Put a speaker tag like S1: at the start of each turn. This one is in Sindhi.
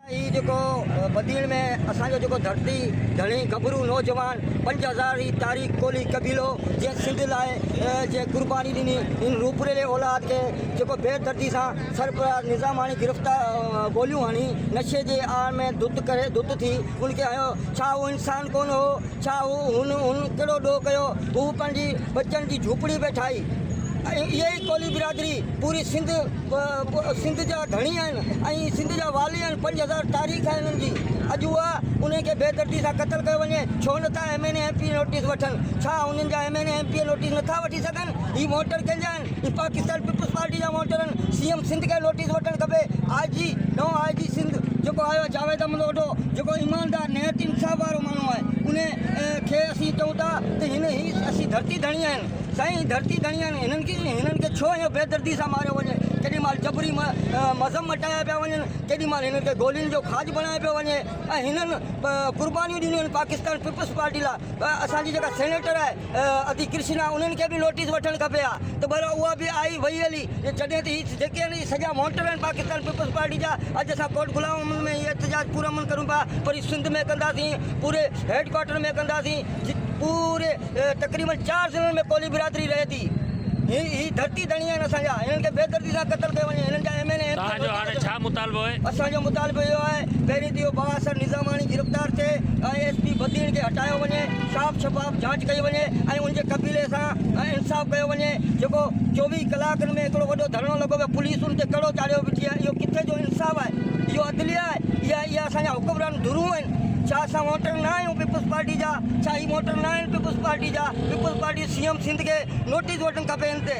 S1: هي جيڪو بدين ۾ اسان جو جيڪو ڌرتي ڌڻي گڀرو نوجوان پنج هزار هي تاريخ ڪولهي قبيلو جنهن سنڌ لاء جي قرباني ڏني ان روپريلي اولاد کي جيڪو بي دردي سان سرفراز نظاماڻي گرفتا گوليون هڻي نشي جي آڙ ۾ ڌت ڪري ڌت ٿي ان کي هنيو ڇا هو انسان ڪونه هو ڇا هو هن هن ڪهڙو ڏوهه ڪيو هو پنهنجي ٻچن جي جهوپڙي به ٺاهي ۽ اهي ئي ڪولهي برادري پوري سنڌ سنڌ جا ڌڻي آهن ۽ سنڌ جا والي آهن پنج هزار تاريخ آهي انهن جي اڄ اها انهن کي بي دردي سان قتل ڪيو وڃي ڇو نٿا M N A M P A notice وٺن ڇا انهن جا M N A M P A notice نٿا وٺي سگهن هي ووٽر ڪنهن جا آهن هي پاڪستان پيپلز پارٽي جا ووٽر آهن سي ايم سنڌ کي نوٽيس وٺڻ کپي آء جي نئون آء جي سنڌ جيڪو آيو آهي جاويد احمد اوڍو جيڪو ايماندار نهايت انصاف وارو ماڻهو آهي انهن کي اسين چئون ٿا ته هن هي اسين ڌرتي ڌڻي آهن سائين ڌرتي ڌڻي آهن هنن کي هنن کي ڇو ايئن بي دردي سان ماريو وڃي ڪيڏي مال جبري مذهب مٽايا پيا وڃن ڪيڏي مال هنن کي گولين جو کاڄ بڻايو پيو وڃي ۽ هنن قربانيون ڏنيون آهن پاڪستان پيپلز پارٽي لاء اسان جي جيڪا سينيٽر آهي ادي ڪرشنا انهن کي به نوٽيس وٺڻ کپي ها ته ڀلا اها به آئي وئي هلي جڏهن ته هي جيڪي آهن سڄا مونٽر آهن پاڪستان پيپلز پارٽي جا اڄ اسان ڪوٽ غلام محمد ۾ هي احتجاج پرامن ڪريون پيا پر هي سنڌ ۾ ڪنداسين پوري هيڊ ڪوارٽر ۾ ڪنداسين پوري تقريبن چار ضلعن ۾ ڪولهي برادري رهي ٿي. هي هي ڌرتي ڌڻي آهن اسان جا. هنن کي بي دردي سان قتل ڪيو وڃي. هنن جا M N A M P توهان جو هاڻي ڇا
S2: مطالبو آهي؟ اسان جو مطالبو اهو
S1: آهي پهرين ته اهو بااثر نظاماڻي گرفتار ٿئي ۽ ايس پي بدين کي هٽايو وڃي صاف شفاف جاچ ڪئي وڃي ۽ ان جي قبيلي سان انصاف ڪيو وڃي جيڪو چوويهه ڪلاڪن ۾ هڪڙو وڏو ڌرڻو لڳو پيو پوليس ان تي ڪڙو چاڙهيو بيٺي آهي اهو ڪٿي جو انصاف آهي اهو عدليه آهي اها اهي اسان جا حڪمران ڌرون آهن ڇا اسان ووٽر نه آهيون پيپلز پارٽي جا ڇا هي ووٽر نه آهن پيپلز پارٽي جا پيپلز پارٽي سي ايم سنڌ کي نوٽيس وٺڻ کپي هن تي.